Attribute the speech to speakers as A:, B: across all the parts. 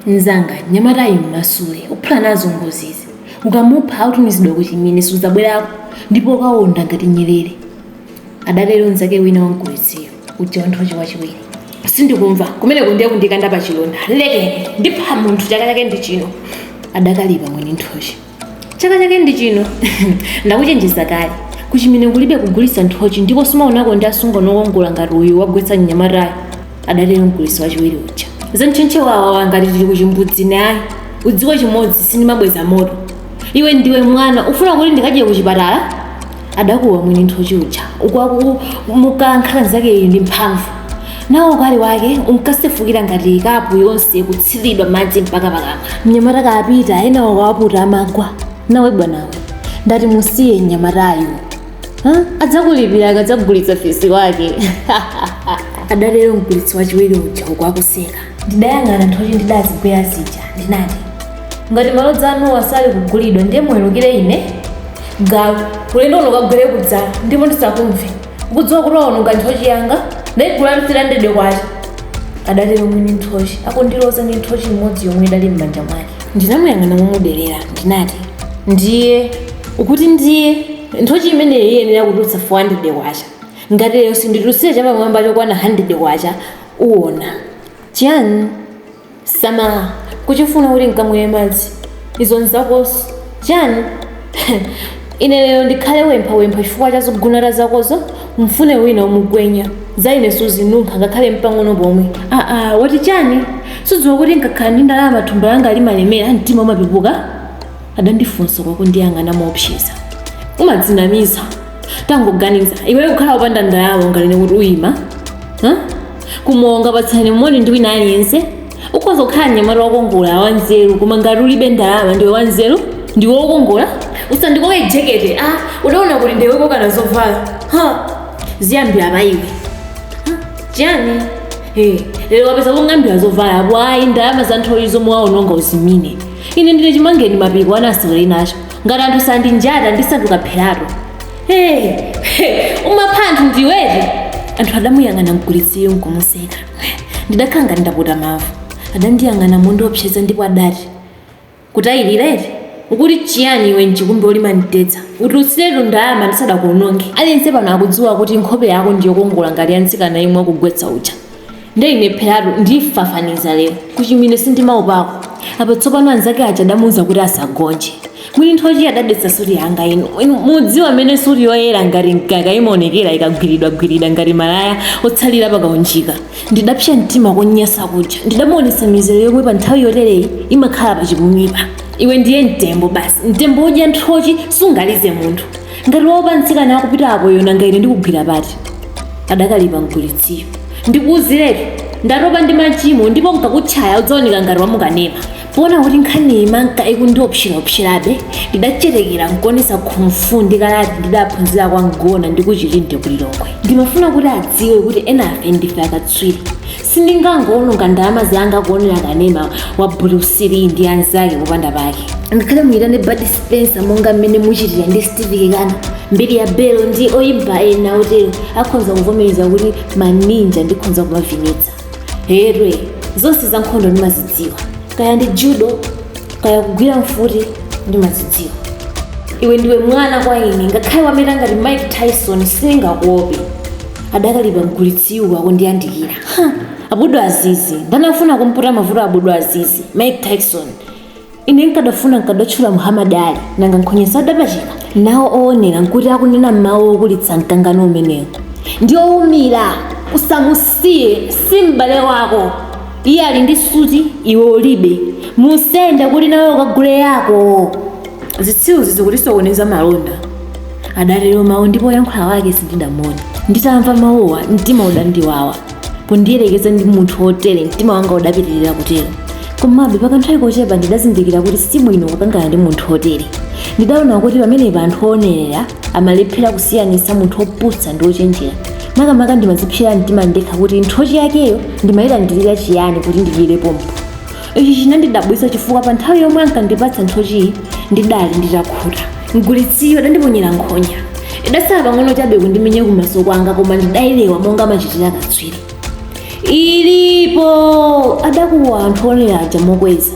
A: mzanga mnyamatayu mmasule uphula nazo ngozizi ukamupha utumizidwa kuchimene sudzabwerako ndipo ukawonda ngati nyerere adatero mzake wina wa mgulitsiyo uja wanthochi wachiwiri sindikumva kumeneko ndiye kundikanda pa chilonda lekeni ndipha munthu chaka chake ndi chino adakalipa mwini nthochi chaka chake ndi chino ndakuchenjeza kale kuchimene kulibe kugulitsa nthochi ndipo sumaonako ndi asungwana okongola ngati uyu wagwetsa mnyamatayo adatero mgulitsi wachiwiri uja zantchentche wawawa ngati tili kuchimbudzi naye udziwe chimodzi sindimabweza moto iwe ndiwe mwana ufuna kuti ndikadye kuchipatala adakuwa mwini nthochi uja uku akumukankha nzakeyu ndi mphamvu nawo ukali wake unkasefukira ngati kapu yonse kutsiridwa madzi mpaka pakamwa mnyamata kapita ena ukawaputa amagwa nawe bwanawe ndati musiye mnyamatayu Ha? adzakulipira akadzagulitsa fisi wake adatero mgulitsi wachiwiri uja uku akuseka Ndidayang'ana nthochi ndidazigwera zija, ndinati, Ngati malodza anuwa sali kugulidwa, ndiye muwerukire ine, galu, ulendo uno ukagwere kudzala, ndipo ndisakumve. Ukudziwa kuti waononga nthochi yanga? Ndaigula ndi 300 kwacha, adatero mwini nthochi, akundiloza ndi nthochi imodzi yomwe idali m'manja mwake. Ndinamuyang'ana momuderera, ndinati, Ndiye, ukuti ndiye, nthochi imeneyi iyenera kutulutsa 400 kwacha. Ngati lero sinditulutsire chapamwamba chokwana 100 kwacha, uwona chiyani samala kuchifuna kuti nkamwere madzi izo nzakozo chiyani ine lero ndikhale wempha wempha chifukwa cha zogunata zakozo mfune wina umugwenya za ine suzinunkha ngakhale mpang'ono pomwe aa wati chani sudziwa kuti nkakhala ndi ndalama thumba langa limalemera mtima umapepuka adandifunsa uku akundiyang'ana moopseza umadzinamiza tangoganiza iweyo kukhala wopanda ndalama unganene kuti uyima huh? kumowa ungapatsane moni ndi wina aliyense ukhoza kukhala mnyamata wokongola wanzeru koma ngati ulibe ndalama ndiwe wanzeru ndiwe wokongola usandikoke jekete a udaona kuti ndiwe kokana zovala ha ziyambira pa iwe Huh? chiyani Eh, lero wapeza kong'ambira zovala apo ayi ndalama za nthochi zomwe waononga uzimine ine ndine chimangeni mapiko ana asewere nacho ngati anthu sandinjata ndisanduka pheratu hey, hey, umapha anthu ndiwe eti anthu adamuyang'ana mgulitsiyo nkumuseka ndidakhala ngati ndaputa mavu adandiyang'ana mondiopseza ndipo adati kutayirira eti ukuti chiyani iwe mchikumbe olima mtedza utulutsiretu ndalama ndisadakuononge aliyense pano akudziwa kuti nkhope yako ndiyokongola ngati ya mtsikana yemwe wakugwetsa uja nde ineperatu ndifafaniza lero kuchimwine sindimaopako apo tsopano anzake aja adamuuza kuti asagonje mwini nthochi adadetsa suti yanga inu Inu mudziwa amene suti yoyera ngati mkaka imaonekera ikagwiridwagwiridwa ngati malaya otsalira pakaunjika ndidapsa mtima konyasa kuja ndidamuonesa mizero yomwe pa nthawi yotereyi imakhala pa chipumipa iwe ndiye mtembo basi mtembo wodya nthochi sungalize munthu ngati wa mtsikana akupita apo wonanga ine ndikugwira pati adakalipa mgulitsiyo ndikuuziretu ndatopa ndi machimo ndipo nkakutchaya udzaoneka ngati wamukanema poona kuti nkhani imanka ikundiopseraopserabe ndidachetekera nkuonesa kung fu ndi karate ndidaphunzira kwa mgona ndi kuchilinde kulilongwe ndimafuna kuti adziwe kuti enafe ndife akatswiri sindingangowononga ndalama zanga kuonera kanema wa bruce lee ndi anzake popanda pake ngakhale muyitane bud spencer monga mmene muchitira ndi steve kekana mbilia bel ndi oyimba ena otero akhonza kuvomereza kuti maninja ndikhonza kumavinitsa herwe zonse za nkhondo ndimazidziwa kaya ndi judo kaya kugwira mfuti ndimazidziwa iwe ndiwe mwana kwa ine ngakhale wameta ngati mike tyson sindingakuope adakalipa mgulitsiyu akundiyandikira abdul aziz ndani afuna kumputa mavuto abdul aziz mike tyson ine nkadafuna nkadatchula muhammad ali nanga nkhonyazo adapachika nawo owonera nkuti akunena mmawu okulitsa mkangano umenewo ndi owumira usamusiye si m'bale wako iye ali ndi suti iwe ulibe musende kuti nawe ukagule yako zitsiru zizikutisokoneza malonda adatero mawu ndipo woyankhula wake sindidamuone nditamva mawuwa mtima udandiwawa pondiyerekeza ndi munthu wotere mtima wanga udapitirira kutero komabe pakanthawi kochepa ndidazindikira kuti si bwino kukangana ndi munthu wotere ndidaona kuti pamenepa anthu oonerera amalephera kusiyanitsa munthu wopusa ndi wochenjera makamaka ndimazipsera mtima ndekha kuti nthochi yakeyo ndimayilandirira chiyani kuti ndidyere pompo ichi chinandidabwitsa chifukwa pa nthawi yomwe ankandipatsa nthochiyi ndidali nditakhuta mgulitsiyo adandiponyera nkhonya idatsala pang'ono chabe kundimenya kumaso kwanga koma ndidailewa monga amachitira katswiri ilipo adakuwa anthu onera aja mokweza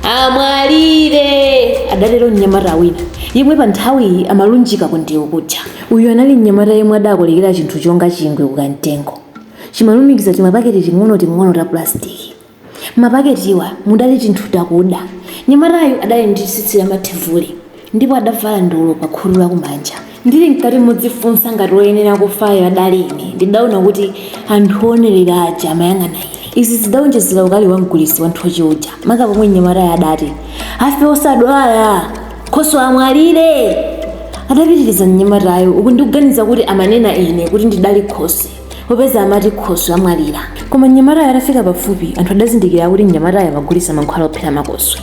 A: amwalire adatero mnyamata wina yemwe pa nthawiyi amalunjika ku ndewu kuja uyu anali mnyamata yemwe adakolekera chinthu chonga chingwe kukamtengo chimalumikiza timapaketi ting'onoting'ono ta pulastiki M'mapaketiwa mudali tinthu takuda. Mnyamatayu adali ndi tsitsi lamathevule ndipo adavala ndolo pakhutu lakumanja. Ndili mkati modzifunsa ngati woyenera kufayo adali ine, ndidaona kuti anthu oonerera aja amayang'ana ine. Izi zidaonjezera ukali wa mgulitsi wa nthochi uja, maka pomwe mnyamatayo adati, Afe osadwala! Khoswe amwalire! adapitiriza mnyamatayo, uku ndikuganiza kuti amanena ine kuti ndidali khoswe. popeza amati khoswe amwalira koma mnyamatayo atafika pafupi anthu adazindikira kuti mnyamatayo amagulitsa mankhwala ophera makoswe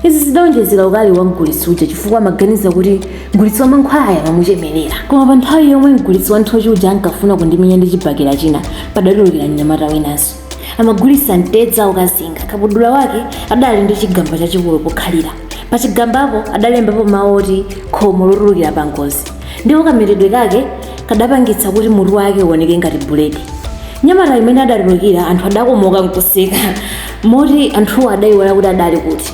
A: izi zidawonjezera ukali wa mgulitsi uja chifukwa amaganiza kuti mgulitsi wa mankhwalayo amamuchemerera koma pa nthawi yomwe mgulitsi wa nthochi uja ankafuna kundimenya ndi chibakera china padatulukira mnyamata winanso amagulitsa mtedza wokazinga kabudula wake adali ndi chigamba chachikulu pokhalira pa chigambapo adalembapo mawu oti khomo lotulukira pa ngozi ndipo kametedwe kake kadapangitsa kuti mutu wake uoneke ngati buledi mnyamatayu mmene adatulukira anthu adakomoka nkuseka moti anthuwo adayiwala kuti adali kuti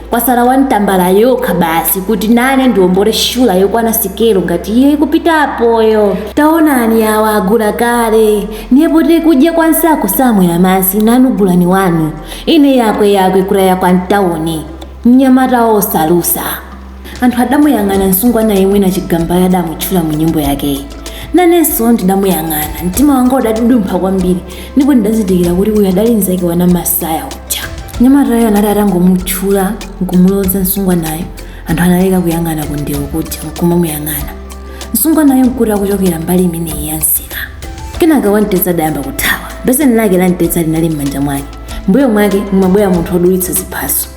A: kwasala wa ntambala yokha basi kuti nane ndiombole shula yokwana sikelo ngati iye ikupitapoyo taonani awa agula kale ndipo tili kudya kwa nsako saamwera masi nanu gulani wanu ine yakwe yakwe kulaya kwa mtawuni nyamata osalusa anthu adamuyang'ana msungwana yemwe nachigambayo adamutchula mu nyimbo yakeyi nanenso ndidamuyang'ana mtima wanga udadudumpha kwambiri ndipo ndidazindikira kuti uyu adali mzake wa namasaya uja mnyamatayo anati atangomutchula nkumuloza msungwanayo anthu analeka kuyang'ana kundewo kuja nkumamuyang'ana msungwanayo nkuti akuchokera mbali imeneyi ya msika kenaka wamtedza adayamba kuthawa beseni lake la mtedza linali m'manja mwake mbuyo mwake mumabwera munthu odulitsa ziphaso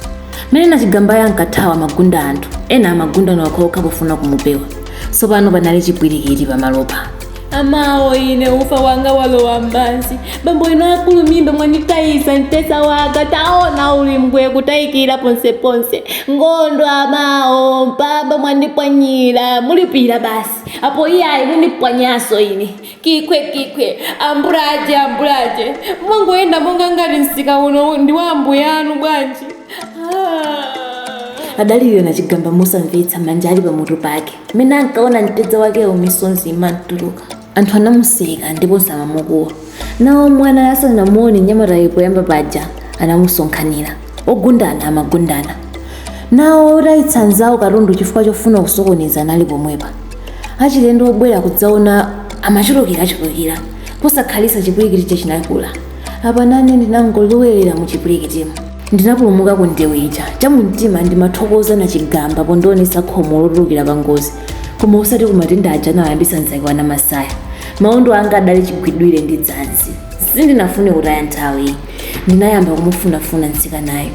A: mmene nachigambayo ankathawa amagunda anthu ena amagunda okhaokha pofuna kumupewa tsopano panali chipwirikiti pamalopo amawo ine ufa wanga walowa mpansi bambo inu akulumimba mwanditayisa mtesa wanga taona uli mbwe kutayikira ponseponse ngondo amawo mpamba mwandipwanyira mulipira basi apo iyayi mundipwanyaso ine kikwe kikwe ambulaje ambulaje mwangoyenda monga ngati msika uno ndi wa ambuyanu bwanji ah. adalira nachigamba mosamvetsa manja ali pamutu pake mmene ankaona mtedza wakewo misonzi imamtuluka anthu anamuseka ndiponso amamukuwa nawo omwe anali asanamuone mnyamatayo poyamba paja anamusonkhanira ogundana amagundana nawo otayitsa nzawo katundu chifukwa chofuna kusokoneza anali pomwepa achilendo obwera kudzaona amachulukirachulukira posakhalitsa chipwirikiticho chinakula apa nane ndinangolowerera mu chipwirikitimo Ndinapulumuka ku ndewu ija. Chamumtima ndimathokoza Nachigamba pondionetsa khomo lotulukira pa ngozi, koma osati ku matenda aja anawayambitsa mzake wa Namasaya. Maondo anga adali chigwidwire ndi dzanzi. Sindinafune kutaya nthawi. Ndinayamba kumufunafuna mtsikanayo.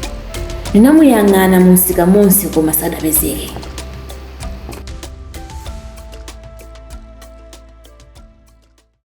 A: Ndinamuyang'ana mu msika monse koma sadapezeke.